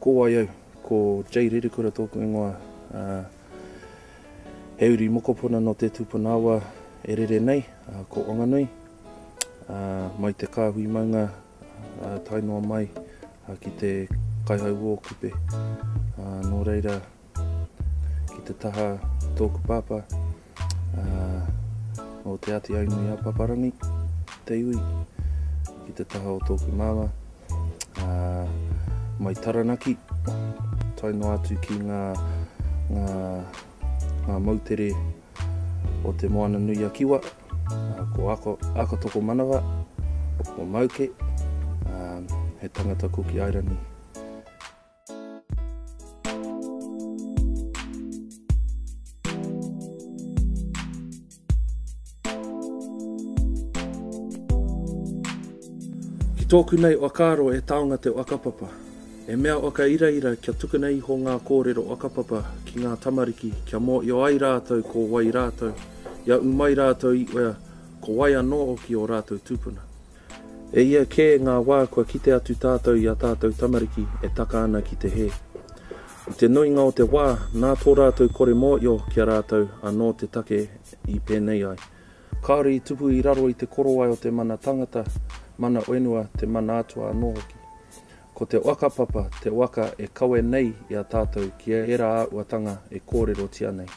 Ko wai au? Ko Jay Rerekura tōku ingoa. He uri mokopuna nō Te Tūpuna-awa e rere nei, ko Wanganui. Mai te kāhui maunga tae noa mai ki te Kaihauō kupe. Nō reira, ki te taha tōku pāpā, uh, o Te Āti Ainui a Paparangi, te iwi, ki te taha o tōku māma, uh, mai Taranaki, tai noa atu ki ngā, ngā, ngā mautere o te Moana Nui a Kiwa, uh, ko Ako, Ako Toko Manawa, o Mauke, uh, he tangata Kuki Airani. Ki tōku nei whakaaro e taonga te whakapapa. He mea whakairaira kia tukuna iho ngā kōrero whakapapa ki ngā tamariki kia mōhio ai rātou ko wai rātou, ia umai rātou i wea, ko wai anō hoki ō rātou tūpuna. E hia kē ngā wā kua kite atu tātou i ā tātou tamariki e taka ana ki te hē. I te nuinga o te wā, nā tō rātou kore mōhio ki a rātou anō te take i pēnei ai. Kāore i tupu i raro i te korowai o te mana tangata, mana whenua, te mana atua anō hoki. Ko te whakapapa te waka e kawe nei i a tātou ki ērā āhuatanga e kōrerotia nei.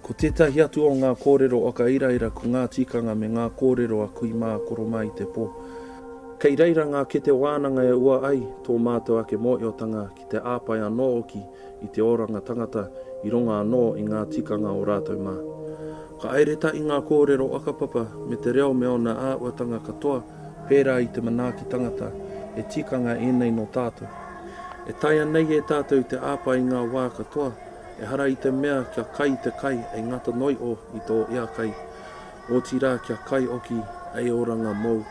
Ko tētahi atu o ngā kōrero o ka iraira ko ngā tikanga me ngā kōrero a kui mā koro mā i te pō. Kei reira ngā kete wānanga e ua ai tō mātou ake mōhiotanga ki te āpae anō hoki i te oranga tangata i runga anō i ngā tikanga o rātou mā. Ka airetai i ngā kōrero whakapapa me te reo me ōna āhuatanga katoa pērā i te manaaki tangata, he tikanga ēnei nō tātou. E taea nei e tātou te āpae i ngā wā katoa, Ehara i te mea kia kai te kai ei ngata noi o i tō ea kai, otirā kia kai oki ei oranga mōu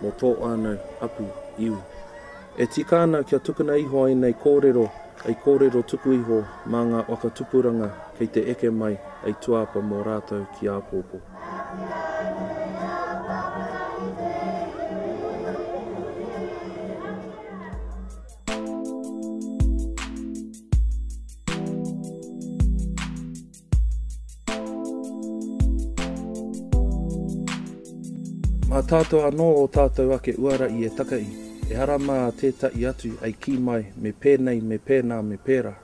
mō tō ānau, apu, iwi. E tika ana kia tukuna iho ēnei kōrero ei kōrero tuku iho mā ngā waka tupuranga kei te eke mai ei tuāpa mō rātou ki āpōpō. Mā tātou anō ō tātou ake uara i e taka i, ehara mā tētahi atu ei kī mai me pēnei, me pēnā, me pērā.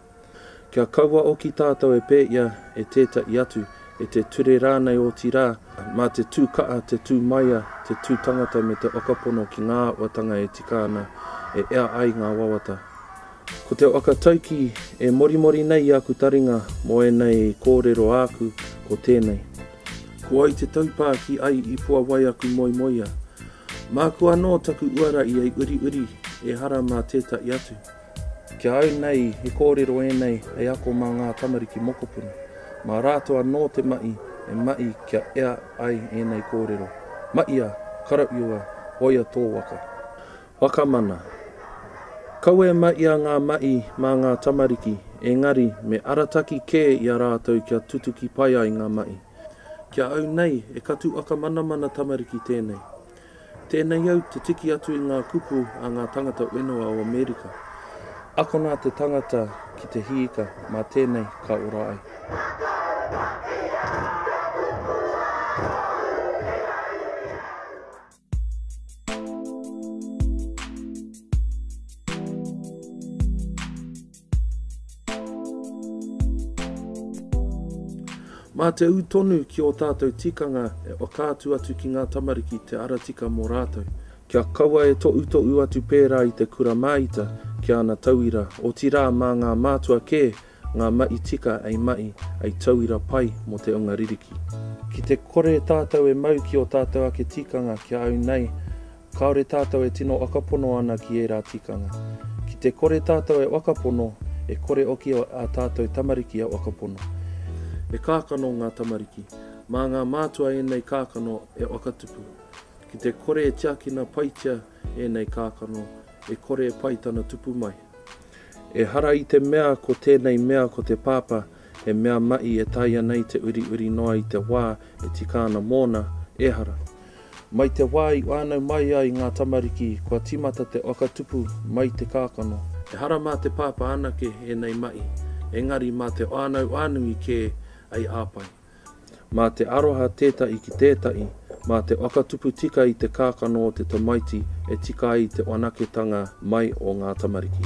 Kia kaua oki tātou e pēia, e tētaʻi atu, e te ture rānei otirā, mā te tū kaʻa, te tū maia, te tū tangata me te whakapono ki ngā āhuatanga e tika ana e ea ai ngā wawata. Ko te waka taukī e morimori nei i aku taringa mō ēnei kōrero āku ko tēnei. Ko ai te taupā ki ai i puawai aku moemoeā. Māku anō taku uara i ei uriuri, ehara mā tētaʻi atu. Ki a au nei, he kōrero ēnei hei ako mā ngā tamariki mokopuna. Mā rātou anō te mahi e mahi kia ea ai ēnei kōrero. Mahia, karauiua, hoia tō waka. Whakamana. Kaua e mahia ngā mahi mā ngā tamariki, engari me arataki kē i a rātou kia tutuki pai ai ngā mahi. Ki a au nei, he katuaka manamana tamariki tēnei. Tēnei au te tiki atu i ngā kupu a ngā tangata whenua o Amerika. Akona te tangata ki te hiika, mā tēnei ka ora ai. Mā te ū tonu ki ō tātou tikanga e whakaatu atu ki ngā tamariki te ara tika mō rātou. Kia kaua e toʻutoʻu atu pērā i te kura māita ki ana tauira, otirā mā ngā mātua kē ngā maʻi tika ei maʻi, ei tauira pai mō te unga ririki. Ki te kore tātou e mau ki ō tātou ake tikanga kia au nei, Kāore tātou e tino whakapono ana ki ērā tikanga. Ki te kore tātou e whakapono, e kore hoki ā tātou tamariki e whakapono. He kākano ngā tamariki. Mā ngā mātua ēnei kākano e whakatupu. Ki te kore e tiakina paitia ēnei kākano, e kore e pai tana tupu mai. Ehara i te mea ko tēnei mea ko te pāpā he mea mahi e taea nei te uriuri noa i te wā e tika ana mōna, ehara. Mai te wā i whānau mai ai ngā tamariki kua tīmata te waka tupu mai te kākano. Ehara mā te pāpā anake ēnei mahi, engari mā te whānau whānui kē hei āpae. Mā te aroha tētahi ki tētahi, mā te waka tupu tika i te kākano o te tamaiti e tika ai te whanaketanga mai o ngā tamariki.